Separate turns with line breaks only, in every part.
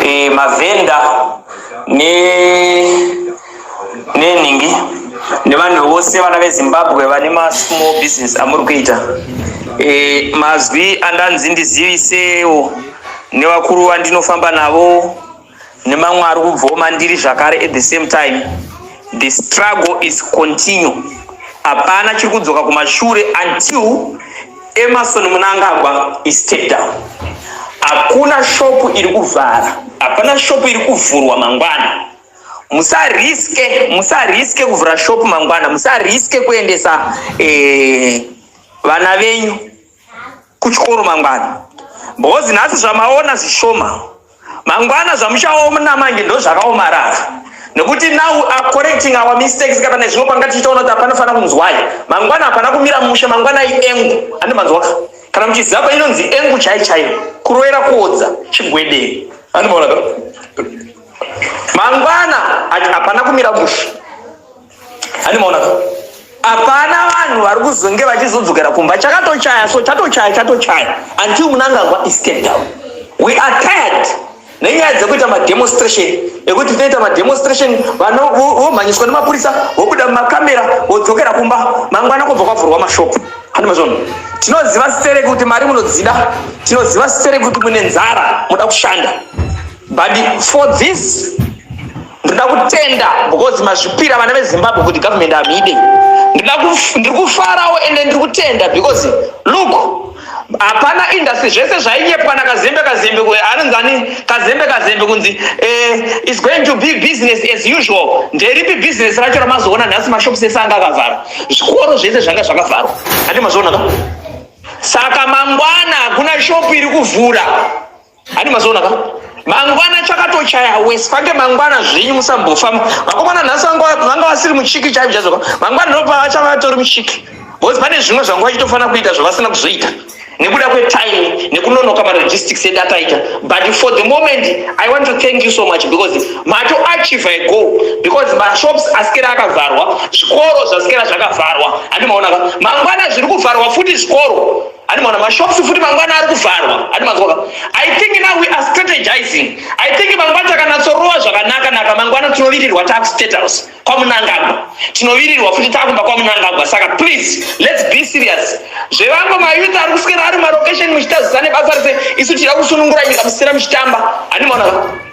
e, mavhenda ne nenhingi nevanhu vose vana vezimbabwe vane masmall business amuri kuita e, mazwi andanzi ndizivisewo nevakuru vandinofamba navo nemamwe ari kubvawo mandiri zvakare at the same time the struggle is continue hapana chiri kudzoka kumashure until Emerson Mnangagwa is step down. Hakuna shopu iri kuvhara, hapana shopu iri kuvhurwa mangwana. Musariske, musariske kuvhura shopu mangwana, musariske kuendesa eh, vana venyu kuchikoro mangwana, because nhasi zvamaona zvishoma. mangwana zvamuchaona manje ndozvakaomarara nekuti now are correcting our mistakes kana nezvimwe panga tichitaona kuti hapana fana kunzwai mangwana hapana kumira mushe mangwana iengu andi manzwaka kana kuti zapa inonzi engu chai chai kuroera kuodza chigwedei andimaona mangwana hapana kumira mushe hapana vanhu vari kuzonge vachizodzokera kumba chakatochaya so chatochaya chatochaya until munangagwa is step down we are tired nenyaya dzekuita mademonstration ekuti tinoita mademonstration vana vomhanyiswa nemapurisa vobuda mumakamera vodzokera kumba mangwana kubva kwavhurwa mashopu hanimazvono tinoziva sere kuti mari munodzida tinoziva sere kuti mune nzara muda kushanda but for this ndinoda kutenda because mazvipira vana vezimbabwe kuti government amide ndiri kufarawo ende ndiri kutenda because look hapana industry zvese zvainyepwa nakazembe kazembe anonzani kazembe kazembe kunzi eh, is going to be business as usual nderipi business racho ramazoona nhasi mashops ese anga akavhara zvikoro zvese zvanga zvakavharwa ati mazvionaka saka mangwana hakuna shop iri kuvhura Ani mazoona ka? Mangwana chakatochaya wese pange mangwana zvenyu musambofa vakomana nhasi vanga vasiri muchiki chaivo chazoka mangwana ndopa vachava vatori muchiki bcause pane zvimwe zvanga vachitofanira kuita zvavasina kuzoita nekuda kwetime nekunonoka maregistics edu ataita but for the moment i want to thank you so much because mato achieve a goal because mashops asikera akavharwa zvikoro zvasikera zvakavharwa handimaonaka mangwana zviri kuvharwa futi zvikoro ani mwana mashops futi mangwana ari kuvharwa ani mazwaka i think now we are strategizing i think mangwana takanatsorowa zvakanaka naka mangwana tinovirirwa taku state house kwamunangagwa tinovirirwa futi takumba kwamunangagwa saka please let's be serious zvevamwe mayouth ari kuswera ari mumarokesheni muchitazisa nebasa rese isu tida kusunungura nyika musina muchitamba ani mwana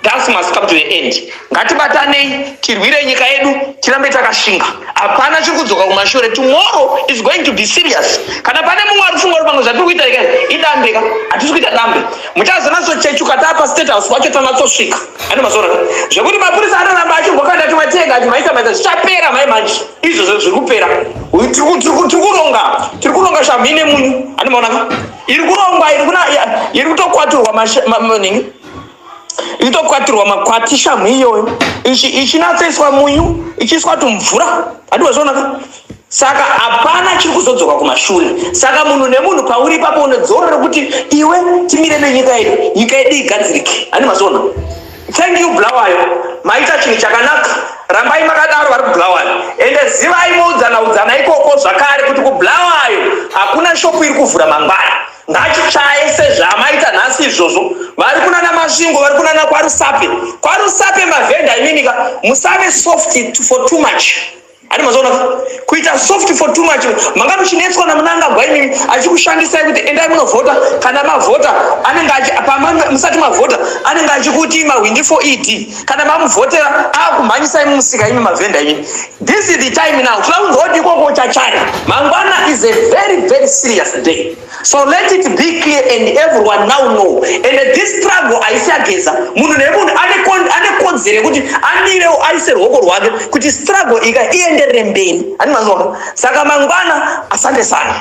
thus must come to the end ngatibatanei tirwire nyika yedu tirambe takashinga hapana chiri kudzoka kumashure tomorrow is going to be serious kana pane mumwe ari funga uri pamwe zvatiri kuita ika idambe ka hatisi kuita dambe muchazonatsochechuka taa pastate house kwacho tanatsosvika ane mazoona zvekuti mapurisa anoramba achingokanda timatenga timaita maita zvichapera mai manje izvozvo zviri kupera tiri kuronga tiri kuronga shamhi nemunyu ane maonaka iri kurongwa iri kutokwaturwa manini inotokwatirwa makwati shamhu iyoyo ichinatsoiswa munyu ichiiswa tumvura hatiwazvonaka saka hapana chiri kuzodzoka kumashure saka munhu nemunhu pauri ipapo unodzorora kuti iwe timire nenyika yedu nyika yedu igadzirike ani mazona thank you bulawayo maita chinhu chakanaka rambai makadaro vari kubulawayo ende zivai moudzana udzana ikoko zvakare kuti kubulawayo hakuna shopu iri kuvhura mangwana ngachitsvaye sezvaamaita nhasi izvozvo vari kunana masvingo vari kunana kwarusape kwarusape mavhenda iminika musave soft for too much ani mazoona kuita soft for too much manga muchinetswa namunangagwa imimi achikushandisai kuti endai munovhota kana mavhota anenge musati mavhota anenge achikuti mahwindi for ed kana mamuvhotera akumhanyisai mumusika imi mavhenda imi this is the time now tinoda kunzwa kuti ikoko chachari mangwana is a very very serious day so let it be clear and everyone now know and this struggle haisi ageza munhu nemunhu ane kodzero yekuti amirewo aise ruoko rwake kuti struggle ika ienderere mberi ani mazona saka mangwana asande sana